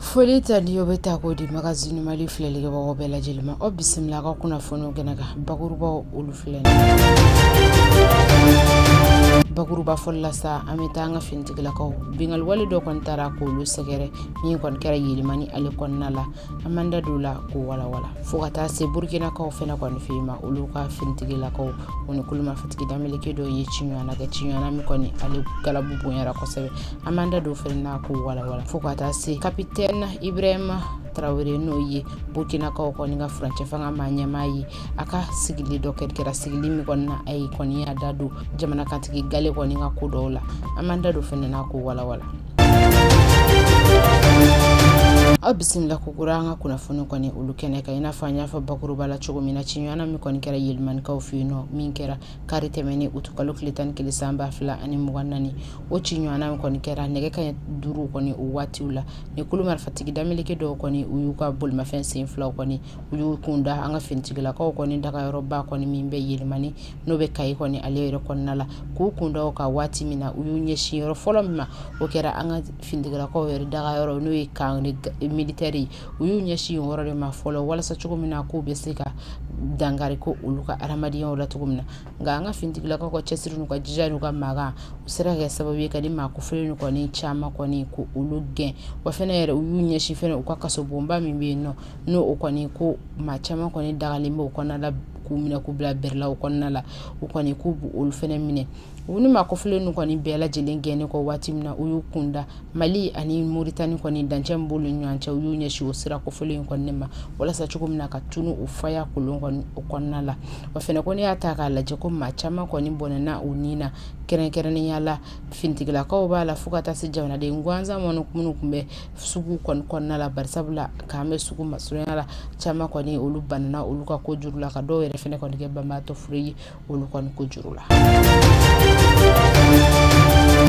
foli tanuni o bɛ ta k'o di magazini mali filɛlikɛbagaw bɛɛ lajɛlen ma aw bisimila an ka kunnafoniw kɛnɛ kan bakurubaw olu filɛ bakuruba fɔlɔ la sa an bɛ taa an ka finitigilakaw binkanniwale dɔ kɔni taara k'olu sɛgɛrɛ min kɔni kɛra yelimani ale kɔnɔna la an bɛna da don a la k'o walawala fo ka taa se burkinakaw fɛnɛ kɔni fe ma olu ka finitigilakaw o ni kulu marifatigi dameleke dɔ ye ciɲɔgɔnna kɛ ciɲɔgɔnna min kɔni ale galabu bonyara kosɛbɛ an bɛna da don fɛnɛ na k'o walawala fo ka taa se kapitɛne ibrahima tarawele n'o ye burkinakaw kɔni ka furancɛ fanga ma ɲɛmaa ye a ka sigili dɔ kɛra sigili min kɔni na a yɛrɛ kɔni y'a da don jamanakuntigi gale kɔni ka ko dɔw la an bɛna da don fɛnɛ na k'o walawala aw bisimila kokura an ka kunnafoni kɔni olu kɛnɛ kan i n'a fɔ an y'a fɔ bakuruba la cogo min na ciɲɔgɔnna min kɔni kɛra yelimanikaw fɛ yen nɔ min kɛra kari tɛmɛnen utukalo tile tan ni kelen san ba fila ani mugan naani o ciɲɔgɔnna min kɔni kɛra nɛgɛ kaɲɛ duuru kɔni o waatiw la ni kulu marifatigi dameleke dɔw kɔni u y'u ka bolimafɛn sen filaw kɔni u y'u kun da an ka finitigilakaw kɔni dagayɔrɔba kɔni min bɛ yelimani n'o bɛ kayi kɔni ale yɛrɛ kɔnɔna la k'u kun da a kan waati min na u y'u ɲɛsin yɔrɔ fɔlɔ min ma o kɛra an ka finitigilakaw yɛrɛ daga yɔrɔ n'o ye kan militɛri ye u y'u ɲɛsin o yɔrɔ de ma fɔlɔ walasa cogo min na k'u bɛ se ka dankari ko olu ka adamadenyaw la cogo min na nka an ka finitigilakaw ka cɛsiri n'u ka jija n'u ka magan o sera ka kɛ sababu ye ka nin maa kofɔlen nin kɔni caman kɔni k'olu gɛn wa fana yɛrɛ u y'u ɲɛsin fana u ka kasobonba min bɛ yen nɔ n'o o kɔni ko maa caman kɔni dagalen bɛ o kɔnɔna la k'u minɛ k'u bila bɛrɛlaw kɔnɔna la u kɔni k'u b'olu fana minɛ u nin maa kofɔlen ninnu kɔni bɛɛ lajɛlen gɛnnen kɔ waati min na u y'u kun da mali ani moritani kɔni dancɛ b'olu ni ɲɔgɔn cɛ u y'u ɲɛsin o sira kofɔlen in kɔni ma walasa cogo min na ka tunun u faya kolon kɔni o kɔnɔna la wa fana ko n'i y'a ta k'a lajɛ ko maa caman kɔni bɔnɛna u ni na kɛrɛnkɛrɛnnenya la finitigilakaw b'a la fo ka taa se jamanaden gansan minnu tun bɛ sugu kɔni kɔnɔna la barisabu la kan bɛ sugu masurunya la caman kɔni olu banana olu ka ko juru la ka dɔw yɛrɛ fɛnɛ kɔni kɛ banbaatɔ fure ye olu kɔni ko juru la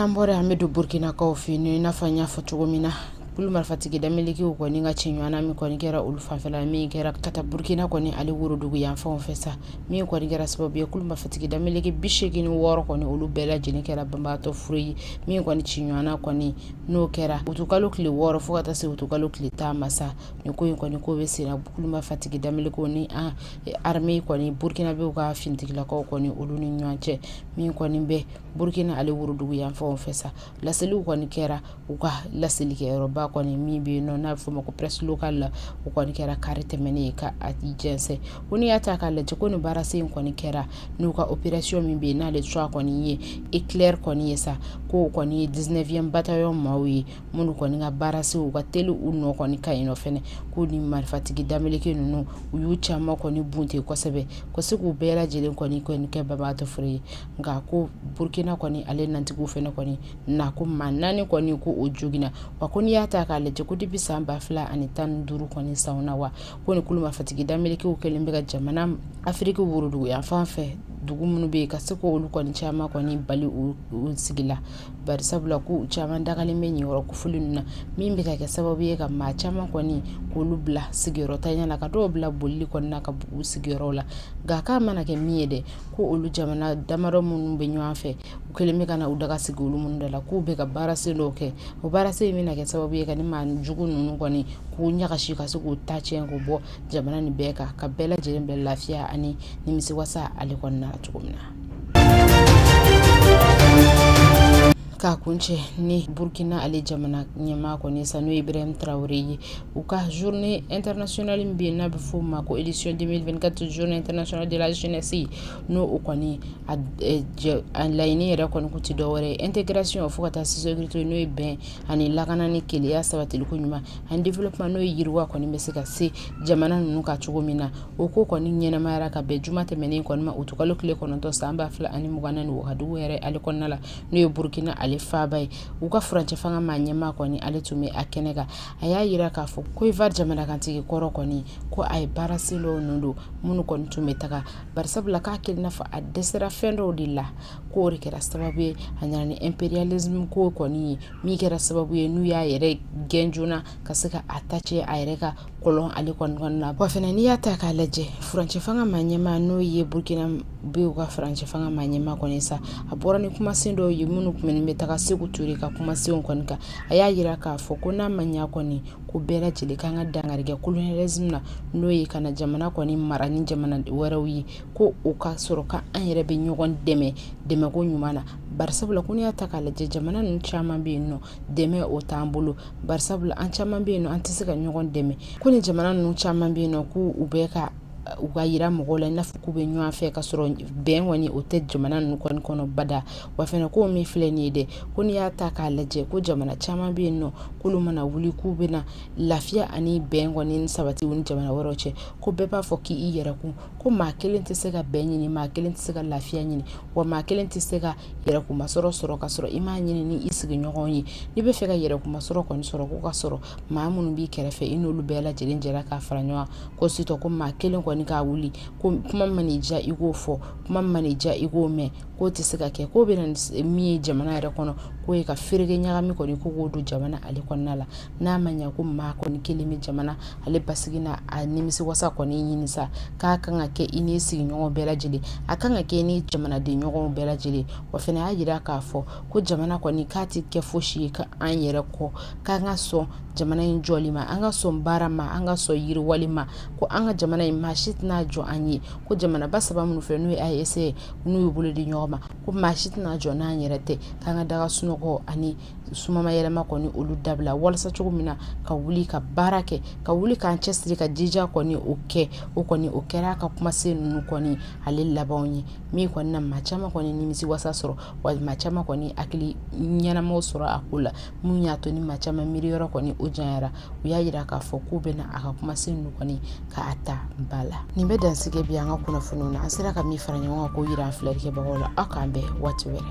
an bɔra an bɛ don burkinakaw fɛ yen i n'a fɔ n y'a fɔ cogo min na kulu marifatigi damelekiw kɔni ka ciɲɔgɔnna min kɔni kɛra olu fanfɛla min kɛra ka taa burkina kɔni ale worodugu yanfanw fɛ sa min kɔni kɛra sababu ye kulu marifatigi dameleke bi seegin wɔɔrɔ kɔni olu bɛɛ lajɛlen kɛra banbaatɔ fure ye min kɔni ciɲɔgɔnna kɔni n'o kɛra wutukalo tile wɔɔrɔ fo ka taa se wutukalo tile tan ma sa nin ko in kɔni k'o bɛ senna kulu marifatigi dameleke o ni an e, arme kɔni burkinabew ka finitigilakaw kɔni olu ni ɲɔgɔn cɛ min kɔni bɛ burkina ale worodugu yanfanw fɛ sa laseliw kɔni kɛra u ka laselikɛyɔrɔba kɔni min bɛ yen nɔ n'a bɛ fɔ o ma ko presse locale la o kɔni kɛra kari tɛmɛnen ye k'a jɛnsɛn ko n'i y'a ta k'a lajɛ ko nin baarasen in kɔni kɛra n'u ka operation min bɛ yen n'ale cogoya kɔni ye eclair kɔni ye sa k'o kɔni ye 19e bataillon maaw ye minnu kɔni ka baarasenw ka teli u nɔ kɔni ka yen nɔ fɛnɛ k'u ni marifatigi dameleke ninnu u y'u caman kɔni bunte kosɛbɛ ka se k'u bɛɛ lajɛlen kɔni kɔni kɛ babaatɔ foro ye nka ko burkina kɔni ale finitigiw fɛnɛ kɔni na ko maa naani kɔni ko o joginna wa ko n'i y'a ta k'a lajɛ ko depuis san ba fila ani tan ni duuru kɔni sanw na wa ko ni kulu marifatigi damekew kɛlen bɛ ka jamana afiriki woroduguyanfan fɛ dugu minnu bɛ yen ka se k' olu kɔni caman kɔni bali u sigi la bari sabula ko caman dagalen bɛ nin yɔrɔ kofɔlen ninnu na min bɛ ka kɛ sababu ye ka maa caman kɔni k'olu bila sigiyɔrɔntanya na ka dɔw bila bolili kɔni na k'u bɔ u sigiyɔrɔ la nka k'a mana kɛ min ye dɛ ko olu jamana damadɔ minnu bɛ ɲɔgɔn fɛ u kɛlen bɛ ka na u daga sigi olu minnu da la k'u bɛ ka baarasen dɔw kɛ o baarasen in bɛna kɛ sababu ye ka nin maa jugu ninnu kɔni k'u ɲagasi ka se k'u ta cɛ k'u bɔ jamana nin bɛɛ kan ka bɛɛ lajɛlen bɛ lafiya ani nimisiwasa ale kɔnɔna na cogo min na k'a kuncɛ ni burkina ale jamana ɲɛmaa kɔni sa n'o ye ibrahim tarawele ye u ka journée internationale min bɛ yen n'a bɛ f'o ma ko édition 2024 journée internationale de la jeunesse n'o o kɔni a laɲini yɛrɛ kɔni tɛ dɔ wɛrɛ ye tɛ gsi o fo ka taa sto n'o ye bɛn ani lakana ni kelenya sabatiliko ɲuman ani développement n'o ye yiriwa kɔni bɛ se ka se jamana ninnu kan cogo min na o ko kɔni ɲɛnamayara ka bɛn juma tɛmɛnen kɔni ma utikalo tile kɔnɔntɔn san ba fila ani mugan ni wagadugu yɛrɛ ale kɔnɔna la n'o ye burkina ale faba ye u ka furancɛ fanga maa ɲɛmaa kɔni ale tun bɛ a kɛnɛ kan a y'a jira k'a fɔ ko faso jamanakuntigi kɔrɔ kɔni ko a ye baarasen dɔ ninnu don minnu kɔni tun bɛ taga bari sabula k'a kɛlen n'a fɔ a dɛsɛra fɛn dɔw de la k'o de kɛra sababu ye a nana ni imperialism ko kɔni ye min kɛra sababu ye n'u y'a yɛrɛ gɛn joona ka se ka a ta cɛ a yɛrɛ ka kɔlɔn ale kɔni kɔnɔna na wa fana n'i y'a ta k'a lajɛ furancɛ fanga maa ɲɛmaa n'o ye burkinabɛw ka furancɛ fanga maa ɲɛmaa kɔni sa a bɔra ni kumasen dɔw ye minnu tun bɛ taga seku ture ka kumasenw kɔni kan a y'a yira k'a fɔ ko n'a ma ɲɛ kɔni ko bɛɛ lajɛlen kan ka dankari kɛ colonialisme na n'o ye ka na jamana kɔni mara ni jamana wɛrɛw ye ko o ka sɔrɔ ka an yɛrɛ bɛ ɲɔgɔn dɛmɛ dɛmɛko ɲuman na barisabula ko n'i y'a ta k'a lajɛ jamana ninnu caman bɛ yen nɔ dɛmɛ o t'an bolo barisabula an caman bɛ yen nɔ an tɛ se ka ɲɔgɔn dɛmɛ ko ni jamana ninnu caman bɛ yen nɔ ko u bɛ ka u k'a yira mɔgɔw la i n'a fɔ k'u bɛ ɲɔgɔn fɛ ka sɔrɔ bɛn kɔni o tɛ jamana ninnu kɔni kɔnɔ bada wa fana ko min filɛ nin ye dɛ ko n'i y'a ta k'a lajɛ ko jamana caman bɛ yen nɔ k'olu mana wuli k'u bɛna lafiya ani bɛn kɔni ni sabati ni jamana wɛrɛw cɛ ko bɛɛ b'a fɔ k'i yɛrɛ kun ko maa kelen tɛ se ka bɛn ɲini maa kelen tɛ se ka lafiya ɲini wa maa kelen tɛ se ka yɛrɛkumasɔrɔ sɔrɔ ka sɔrɔ i m'a ɲini ni i sigiɲɔgɔn ye n'i bɛ fɛ ka yɛrɛkumasɔrɔ kɔni sɔrɔ ko ka sɔrɔ maa minnu b'i kɛrɛfɛ i n'olu bɛɛ lajɛlen jɛra k'a fara ɲɔgɔn ko sitɔ ko maa kelen kɔni k'a wuli ko kuma man'i diya i k'o fɔ kuma man'i diya i k'o mɛn k'o tɛ se ka kɛ k'o bɛ na min ye jamana yɛrɛ kɔnɔ k'o ye ka fereke ɲagami kɔni ko k'o don jamana ale kɔnɔna la n'a ma ɲɛ ko maa kɔni kelen bɛ jamana ale basigi na a nimisi wasa kɔni ɲini sa k'a kan ka kɛ i n'i sigiɲɔgɔn bɛɛ lajɛlen a kan ka kɛ i ni jamanaden ɲɔgɔnw bɛɛ lajɛlen wa fana y'a jira k'a fɔ ko jamana kɔni k'a tɛ kɛ fosi ye ka an yɛrɛ kɔ k'an ka sɔn jamana in jɔli ma an ka sɔn baara ma an ka sɔn yiriwali ma ko an ka jamana in maa si tɛna jɔ an ye ko jamanaba saba minnu fɛ n'o ye AES ye n'u y'u bolo di ɲɔgɔn ma ko maa si tɛna jɔ n'an yɛrɛ tɛ k'an ka da ka sunɔgɔ ani sumama yɛlɛma kɔni olu dabila walasa cogo min na ka wuli ka baara kɛ ka wuli k'an cɛsiri ka jija kɔni o kɛ o kɔni o kɛra a ka kumasen ninnu kɔni ale labanw ye min kɔni na maa caman kɔni nimisi wasa sɔrɔ wa maa caman kɔni hakili ɲɛnamaw sɔrɔ a ko la min y'a to ni maa caman miiri yɔrɔ kɔni o janyara u y'a yira k'a fɔ k'u bɛna a ka kumasen ninnu kɔni k'a ta ba la nin bɛ dan sigi bi an ka kunnafoniw na an sera ka min fara ɲɔgɔn kan k'o yira an filɛlikɛbagaw la aw k'an bɛn waati wɛrɛ